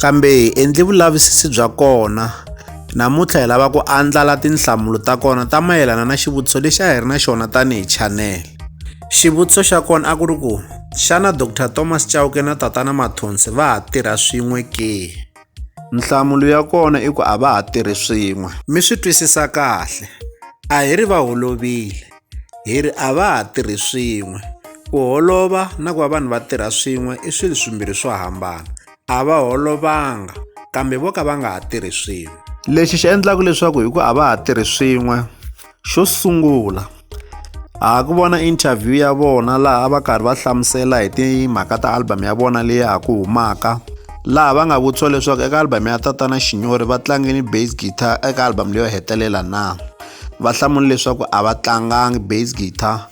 Kambe hi endli vulavisisi bya kona. Namuntlha hi lava ku andlala tinhlamulo ta kona ta mayelana na xivutiso lexi a hi ri na xona tanihi chanel. Xivutiso xa kona a ku ri ku, xana Dr Thomas Chauke na Tatana Mathonsi va ha tirha swin'we ke? Nhlamulo ya kona i ku a va ha tirhi swin'we. Mi swi twisisa kahle, a hi ri va holovile, hi ri a va ha tirhi swin'we. Ku holova na ku va vanhu va tirha swin'we i swilo swimbirhi swo hambana. a va holovanga kambe vo ka va nga ha tirhi swin'we lexi xi endlaka leswaku hi ku a va ha tirhi swin'we xo sungula a ku vona interview ya vona laha a va karhi va hlamusela hi timhaka ta album ya vona leyi ha ku humaka laha va nga vutisiwa leswaku eka album ya tatana xinyori va tlangini bass guitar eka album leyo hetelela na va hlamula leswaku a va tlangangi bass guitar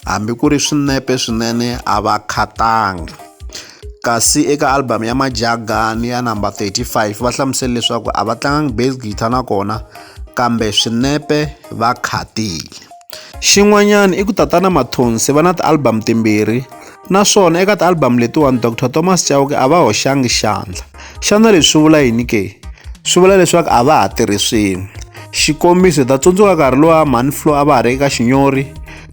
hambi ku ri swinepe swinene a va khatanga Kasi eka album ya Majagan ya number 35 va hlamusele leswaku a va tlangangi bass guitar na kona kambe swinepe va khatile. Xin'wanyana i ku Tatana Mathonsi va na ti-album timbirhi naswona eka ti-album letiwani Doctor Thomas Chauke a va hoxangi xandla. Xana leswi swi vula yini ke? Swi vula leswaku a va ha tirhi swin'we. Xikombiso hi ta tsundzuka nkarhi lowa Mhani Flo a va ha ri eka Xinyori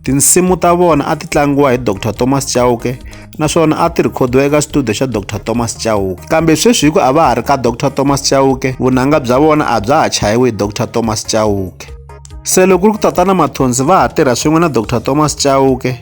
tinsimu ta vona a ti tlangiwa hi Doctor Thomas Chauke naswona a ti rhikhodiwa eka studio xa Dr Thomas Chauke kambe sweswi hi ku a va ha ri ka Dr Thomas Chauke vunanga bya vona a bya ha chayiwi hi Dr Thomas Chauke se loko ri ku tatana Mathonsi va ha tirha swin'we na Dr Thomas Chauke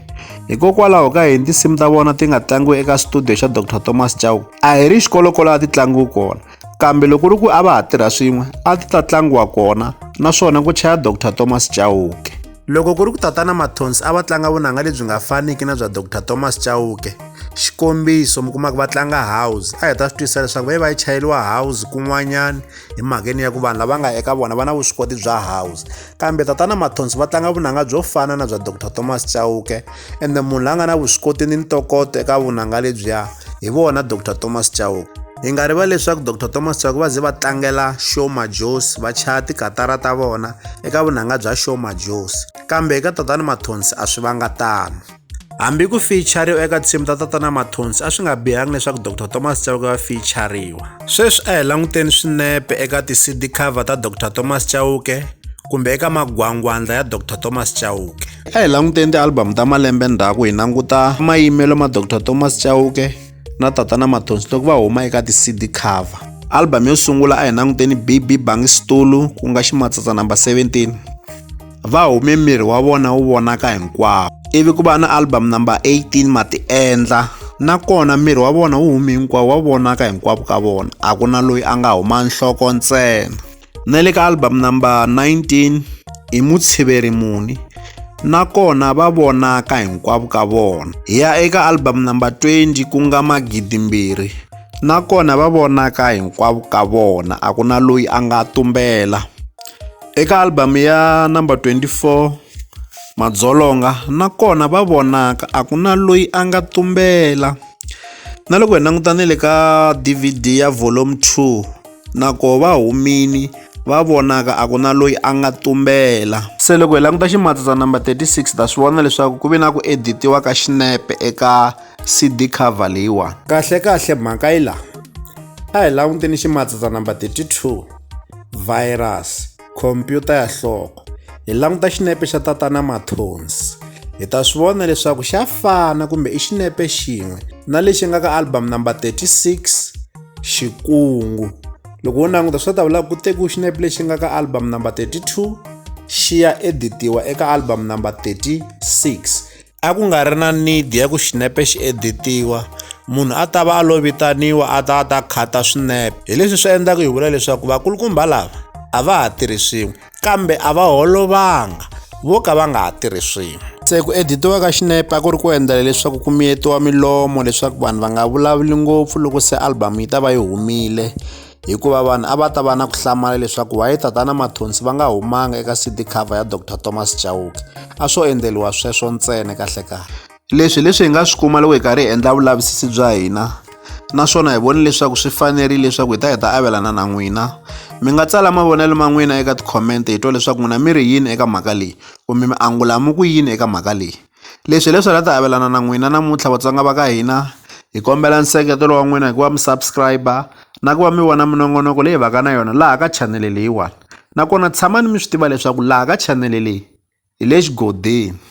hikokwalaho ka yini tinsimu ta vona ti nga tlangiwi eka studio xa Dr Thomas Chauke a hi ri xikolokolo a ti tlangiwi kona kambe loko ri ku a va ha tirha swin'we a ti ta tlangiwa kona naswona ku chaya dr thomas chauke loko ku ri ku tatana mathonsi a va tlanga vunanga lebyi nga faniki na bya dr thomas chauke xikombiso mi kumaka va tlanga house a hi ta swi twisisa leswaku va yi va yi chayeriwa house kun'wanyana hi mhakeni ya ku vanhu lava nga eka vona va na vuswikoti bya house kambe tatana mathonsi va tlanga vunanga byo fana na bya dr thomas chauke ende munhu la nga na vuswikoti ni ntokoto eka vunanga lebyiya hi vona dr thomas chauke hi nga rivali leswaku dr thomas chauke va ze va tlangela shoma jos va chaya tikatara ta vona eka vunanga bya shoma jos kambe eka tatana mathonsi a swi vanga tano Hambi ku fichariwa eka tinsimu ta Tatana Mathonsi a swi nga bihanga leswaku Dr Thomas Chauke va fichariwa. Sweswi a hi languteni swinepe eka ti-CD cover ta Dr Thomas Chauke kumbe eka magwangwandla ya Dr Thomas Chauke. A hi languteni ti-album ta malembe ndzhaku hi languta mayimelo ma Dr Thomas Chauke, na tatana matonstock va huma eka ti-cd cover album yo sungula a hi languteni bb bangi stulu ku nga ximatsatsa number 17 va hume miri wa vona wu vonaka hinkwawo ivi ku va na album number 18 matiendla nakona miri wa vona wu humi hinkwawo wa vonaka hinkwavo ka vona a ku na loyi a nga huma nhloko ntsena Na le ka album number 19 i mutshiveri muni nakona va vonaka hinkwavo ka vona. Hi ya eka album number 20 ku nga magidimbirhi nakona va vonaka hinkwavo ka vona a ku na loyi a nga tumbela. Eka album ya number 24 madzolonga nakona va vonaka a ku na loyi a nga tumbela na loko hi languta ni le ka DVD ya volume two. na koho va humini va vonaka a ku na loyi a nga tumbela se loko hi languta ximatsa number 36 ta swi vona leswaku ku ve na ku editiwa ka xinepe eka cd cover leyiwani kahlekahle mhaka yi laha a hi languteni ximatsa number 32 virus Khompyuta ya hloko. Hi languta xinepe xa tatana Mathonsi. Hi ta swi vona leswaku xa fana kumbe i xinepe xin'we na lexi nga ka album number 36 Xikungu. Loko u languta swi ta vula ku tekiwa xinepe lexi nga ka album number 32 xi ya editiwa eka album number 36. a ku nga ri na need ya ku xinepe xi editiwa munhu a ta va a lo vitaniwa a ta a ta khata swinepe hi leswi swi endlaka hi vula leswaku vakulukumba lava a va ha tirhi swin'we kambe a va holovanga vo ka va nga ha tirhi swin'we se ku editiwa ka xinepe a ku ri ku endlela leswaku ku miyetiwa milomo leswaku vanhu va nga vulavuli ngopfu loko se album yi ta va yi humile hikuva vanhu a va ta va na ku hlamala leswaku waye tatana mathonsi va nga humanga eka cd cover ya dr thomas chauke a swo endleriwa sweswo ntsena kahlekahle leswi leswi hi nga swi kuma loko hi karhi hi endla vulavisisi bya hina naswona hi voni leswaku swi fanerile leswaku hi ta hi ta avelana na n'wina mi nga tsala mavonelo ma n'wina eka tikhomente hi twa leswaku n'wina mi ri yini eka mhaka leyi kumbe mi angula mi ku yini eka mhaka leyi Leswi hi leswi hi nga ta avelana na n'wina namuntlha vatsonga va ka hina hi kombela nseketelo wa n'wina hikuva mi subscribe na ku va mi vona minongonoko leyi hi va ka na yona laha ka chanele leyiwani nakona tshamani mi swi tiva leswaku laha ka chanele leyi hi le xigodeni.